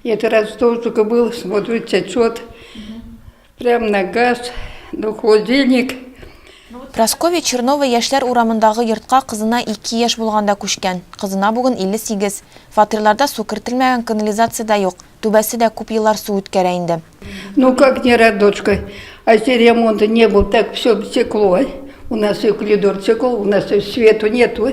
Я вчера в стол только был, смотрю, течет. Прям на газ, на холодильник. Прасковья Чернова яшьләр урамындагы йортка кызына 2 яшь булганда күчкән. Кызына бүген 58. Фатирларда су кертелмәгән, канализация дә юк. Түбәсе дә күп еллар су үткәрә инде. Ну как не рад, дочка? А если ремонта не был, так все стекло. У нас и коридор стекло, у нас и свету нету.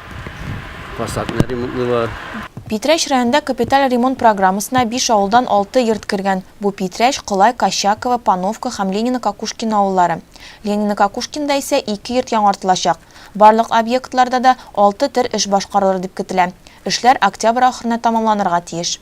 Фасадны ремонтлыйлар. Питрәч районында капиталь ремонт программасына биш авылдан алты йорт кергән. Бу Питрәч, Кылай, Кощаково, Пановка һәм Ленино-Кокушкино авыллары. Ленино-Кокушкинда исә ике йорт яңартылачак. Барлык объектларда да алты төр эш башкарылыр дип көтелә. Эшләр октябрь ахырына тәмамланырга тиеш.